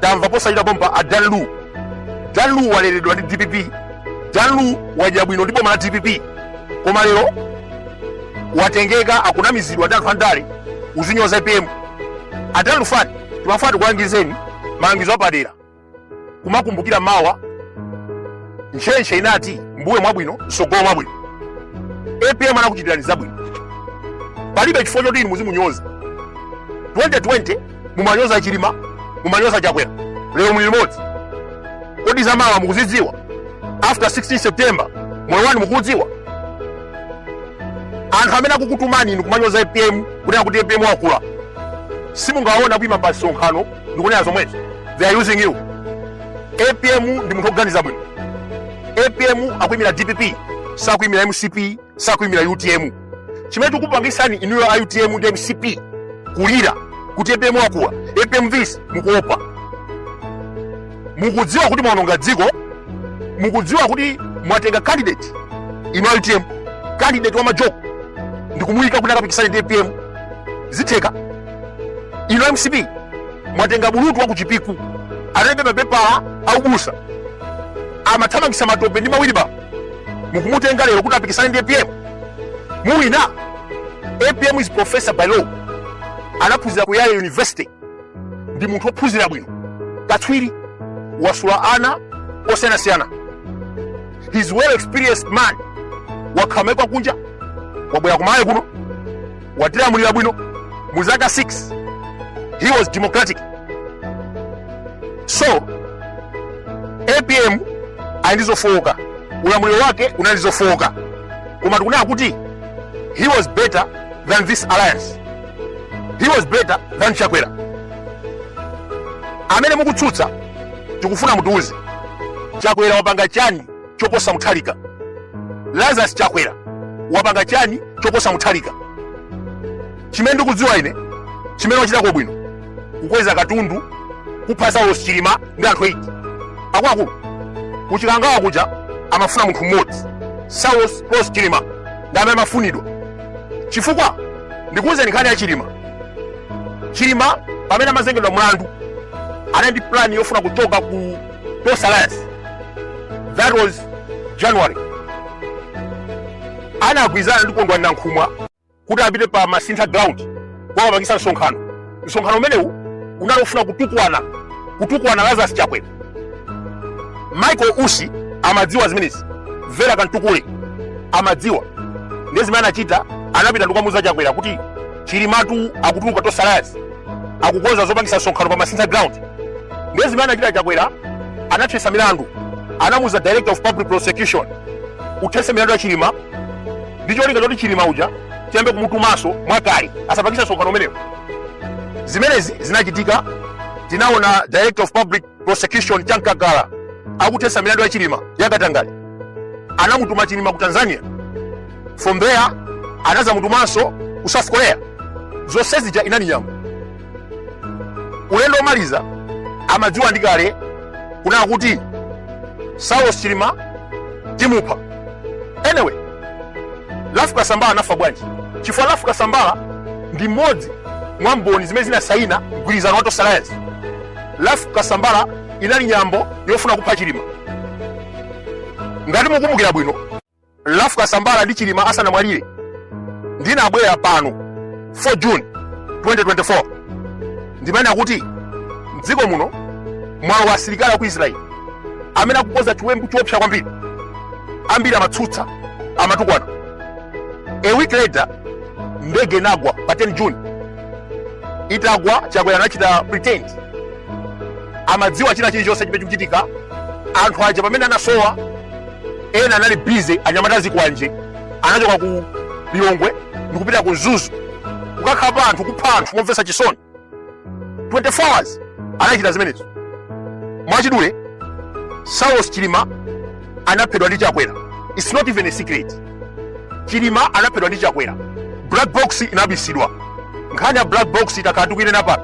Tamva posachedwa pompa a Dan Lu. Dan Lu waleredwa ndi dpp. Dan Lu wadya bwino ndi boma la dpp. Koma lero watengeka akunamizidwa ndi anthu andale kuzinyoza APM. A Dan Lu ife timafuna tikulangizeni malangizo apadera. Kumakumbukira mawa ntchentche inati mbuye mwabwino msogolo mwabwino. APM anakuchitirani zabwino. Palibe chifukwa choti inu muzimunyoza. 2020 mumanyoza chilima mumanyoza chakwera lero muli limodzi kodi zamawa mukuzidziwa after 16 september moyo wanu mukuudziwa anthu amene akukutumani inu kumanyoza apm kunena kuti apm wakula simungaona kuima pa msonkhano ndikunena zomwezo they are using you apm ndi munthu oganiza bwino apm akuimira dpp sakuimira mcp sakuimira utm chimene chikupangisani inuyo a utm ndi mcp kulira kuti apm wakula apm is mukuopa mukudziwa kuti mwaononga dziko mukudziwa kuti mwatenga candidate inu a utm candidate wa majoko ndikumuyika kuti akapikisane ndi apm zitheka inu a mcp mwatenga bulutu wa kuchipiku alibe mapepala aubusa amathamangisa matope ndi mawilibala mukumutenga lero kuti apikisane ndi apm muwina apm is professor by law anaphunzira ku yale university ndi munthu wophunzira bwino katswiri wasula ana osiyanasiyana he's well experienced man wakhala maiko a kunja wabwera ku malawi kuno watilamulira bwino mu zaka 6 he was democratic so apm ali ndi zofowoka ulamuliro wake unali ndi zofowoka koma tikunena kuti he was better than this alliance he was better than chakwera amene mukutsutsa tikufuna mutiuze chakwera wapanga chani choposa mutharika lazarus chakwera wapanga chani choposa mutharika chimene ndikudziwa ine chimene wachitako bwino kukweza katundu kupha saulos chilima ndi anthu 8 akuluakulu kuchikangawa kuja amafuna munthu mmodzi saulos klaus chilima ndi amene amafunidwa chifukwa ndikuwuzeni nkhani ya chilima chilima pamene amazengedwa mlandu anali ndi plani yofuna kuchoka ku Tonse Alliance. That was January. Anagwirizana ndi Kondwani Nankhumwa kuti apite pa Masintha ground kukapangitsa msonkhano. Msonkhano umenewu unali ofuna kutukwana Lazarus Chakwera. Michael Usi amadziwa zimenezi. Vera Kamtukule amadziwa. Ndiye zimene anachita anapita ndikukamuza Chakwera kuti Chilimatu akutuluka Tonse Alliance. akukonza zopangisa msonkhano pa masintha ground ndiye zimene anachita chakwera anathesa milandu anamuuza director of public prosecution uthese milandu ya chilima ndi cholinga choti chilima uja tiyambe kumutumaso mwakale asapangisa msonkhano umenewo zimenezi zinachitika tinaona director of public prosecution Chamkakala akuthesa milandu ya chilima ya katangale anamutuma chilima ku tanzania from there anazamutumanso ku south korea zonse zija inali nyambo ulendo omaliza amadziwa ndi kale kunena kuti saulos chilima timupha anyway Ralph Kasambara anafa bwanji chifukwa Ralph Kasambara ndi mmodzi mwa mboni zimene zinasaina mgwirizano wa Tonse Alliance Ralph Kasambara inali nyambo yofuna kupha Chilima. Ngati mukumbukira bwino, Ralph Kasambara ndi Chilima asanamwalire ndinabwera pano 4 June 2024 ndimanena kuti mdziko muno mwalowa asilikali aku Israel amene akukonza chiwembu choopsa kwambiri, ambiri amatsutsa amatukwana. A week later ndege inagwa pa 10 June itagwa chakwera anachita pretend amadziwa china chilichonse chimene chikuchitika anthu aja pamene anasowa ena anali busy anyamata a zikwanje anachoka ku lilongwe ndikupita ku mzuzu kukakhapa anthu kupha anthu momvetsa chisoni 24 hours anachita zimenezo mwachidule saulos chilima anaphedwa ndi chakwera its not even a secret chilima anaphedwa ndi chakwera black box inabisidwa nkhani ya black box itakhala tikuinena pano